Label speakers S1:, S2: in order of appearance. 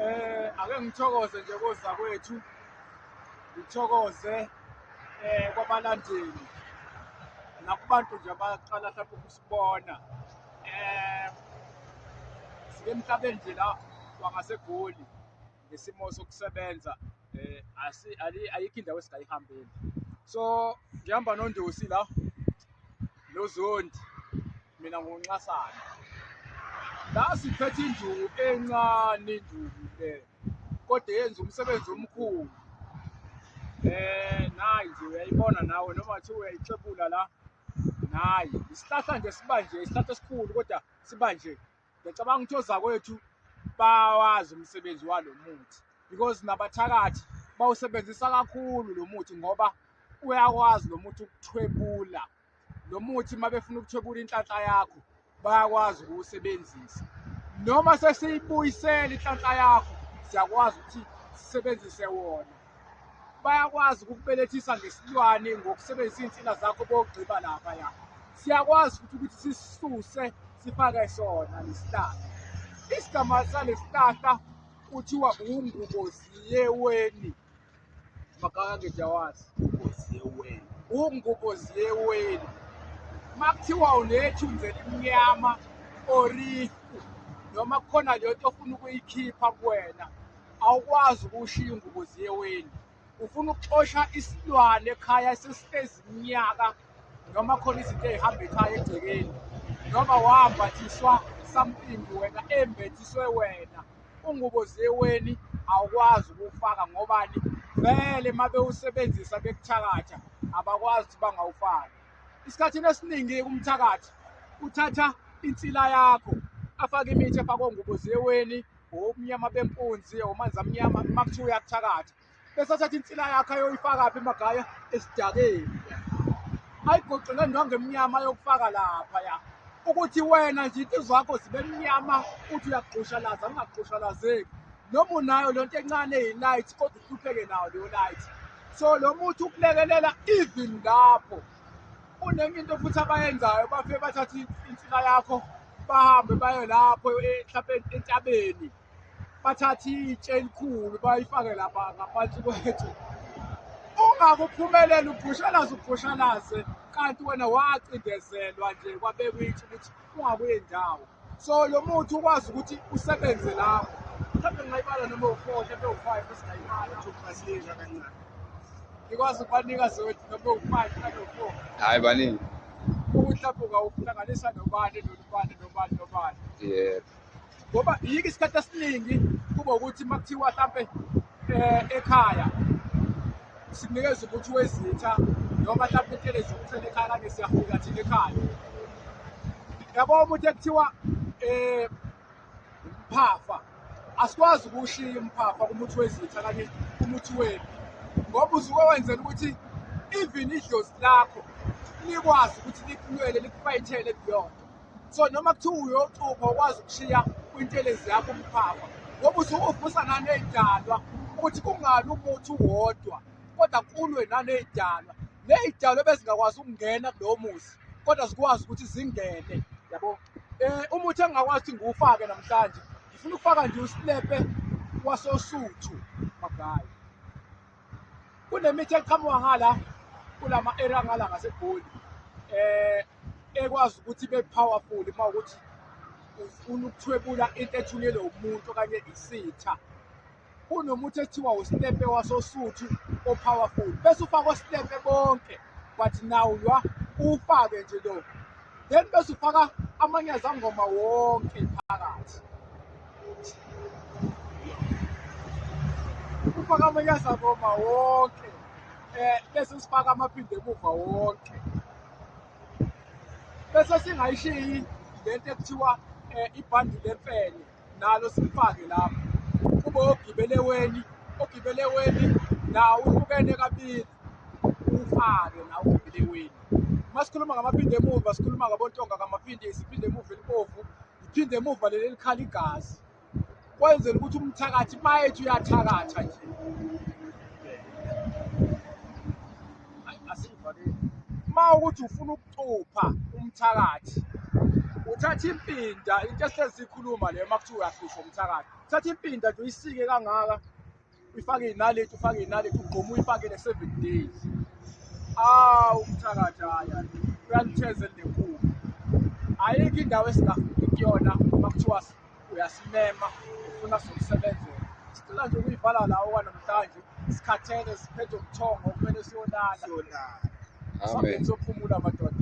S1: Eh ake ngithokoze nje koza kwethu. Ngithokoze eh kwabalandeli. Nakubantu nje abaqala mhlawumbe ukusibona. Eh sike emhlabeni nje la wangasegoli ngesimo sokusebenza eh asi ayikho indawo esingayihambeli. So ngihamba noNdosi la noZondi Mina ngonxasana la siphethe induku encane induku le kodwa yenza umsebenzi omkhulu eh nayi nje uyayibona nawe noma kuthiwa uyayixebula la nayi isihlahla nje sibanje isihlahla esikhulu kodwa sibanje ngiyacabanga ukuthi ozakwethu bawazi umsebenzi walo muthi because nabathakathi bawusebenzisa kakhulu lo muthi ngoba uyakwazi lo muthi ukuthwebula lo muthi uma befuna ukuthwebula inhlanhla yakho bayakwazi ukuwusebenzisa noma sesiyibuyisela inhlanhla yakho siyakwazi ukuthi sisebenzise wona bayakwazi ukukubelethisa ngesilwane ngokusebenzisa iy'nsila zakho bogqiba lapha ya siyakwazi futhi ukuthi sisisuse sifake sona lesihlahla isigama salesihlahla kuthiwa unguboziyeweni makake jawazi ugoziyeweni ungugoziyeweni makuthiwa unethi unzela imnyama ori noma kukhona leyo nto ofuna ukuyikhipha kuwena awukwazi ukushiya ungugoziyeweni ufuna ukuxosha isilwane ekhaya esesihlezi iminyaka noma khona izinto ey'hamba ekhaya egcekeni noma wambathiswa something wena embathiswe wena ungubo zeweni awukwazi ukuwufaka ngobani vele uma bewusebenzisa bekuthakatha abakwazi ukuthi bangawufaki isikhathini esiningi umthakathi uthatha insila yakho afake imithi efakwe ngubo zeweni obumnyama bempunzi omanzi amnyama uma kuthiwa uyakuthakatha esathatha insila yakhe ayoyifakaphi emagaya esidakeni ayigoqele ndwange emnyama ayokufaka lapha ya ukuthi wena nje into zakho zibe mnyama uthi uyagqushalaza ungagqushalazeki noma unayo le nto encane yi-light kodwa uhlupheke nayo leyo light so lo muthi ukulekelela even lapho unenye into futhi abayenzayo bafike bathathe insila yakho bahambe baye lapho mhlawumbe entabeni bathathe itshe elikhulu bayifake lapha ngaphansi kwethu ungakuphumeleli ubhushalaze ubhushalaze kanti wena wacindezelwa nje kwabekwa itshe ukuthi ungakuye ndawo so lo muthi ukwazi ukuthi usebenze lapho mhlawumbe ngingayibala noma u-four mhlawumbe u-five esingayibala uzokuqasiyesha kancane ngikwazi ukubanika zewethu noma u-five mhlawumbe u-four hhayi baningi
S2: ukuthi lapho
S1: ungawuhlanganisa nobani nobani nobani nobani yebo
S2: ngoba
S1: yike isikhathi esiningi kuba ukuthi uma kuthiwa hlampe eh, ekhaya sikunikeza ukuthi wezitha noma hlampe intelezi yokuthela ekhaya kanye siyafika thina ekhaya yabo umuntu ekuthiwa eh phafa asikwazi ukushiya umphafa kumuthi wezitha kanye kumuthi wenu ngoba usuke wenzela ukuthi even idlozi lakho likwazi ukuthi likulwele likufayithele kuyona so noma kuthiwa uyoxupha ukwazi ukushiya kwintelezi yakho umphapha ngoba usuke uvusa naney'dalwa ukuthi kungabi umuthi uwodwa kodwa kulwe naney'dalwa ney'dalwa ebezingakwazi ukungena kulowo muzi kodwa zikwazi ukuthi zingene yabo um umuthi engingakwazi ukuthi ngiwufake namhlanje ngifuna ukufaka nje usilepe wasosuthu magayi kunemithi eqhamuka ngala kulama area ngala ngasegoli eh ekwazi ukuthi be powerful uma ukuthi ufuna ukuthwebula into ethunyelwe umuntu okanye isitha kunomuthi ethiwa ustepe wasosuthu o-powerful bese ufaka ostepe bonke but now ywa uwufake nje lo then bese ufaka amanye azangoma wonke phakathi ukufaka amanyaza ngoma wonke eh bese sifaka amaphinde emuva wonke bese singayishiyi lento ekuthiwa eh, ibhandi lemfene nalo sifake lapho kube ogibele weni ogibele weni nawo uhlukene kabili ufake nawo ogibele weni uma sikhuluma ngamaphinde emuva sikhuluma ngabontonga kamaphindisi iphinde emuva elibovu liphinde emuva leli likhala igazi kwenzela ukuthi umthakathi mayethi uyathakatha nje uma ukuthi ufuna ukucupha umthakathi uthatha impinda into esihlezi ikhuluma leyo uma kuthiwa uyahlushwa umthakathi uthatha impinda nje uyisike kangaka uyifake inaleti ufake inaleti ugqoma uyifakele seven days awu umthakathi haya uyanithezela nenkulu ayikho indawo esingafiki kuyona uma kuthiwa uyasimema ufuna sokusebenzela sicela nje ukuyivala lawo kwanamhlanje sikhathele siphethe ubuthongo kumele siyolala amen sophumula madoda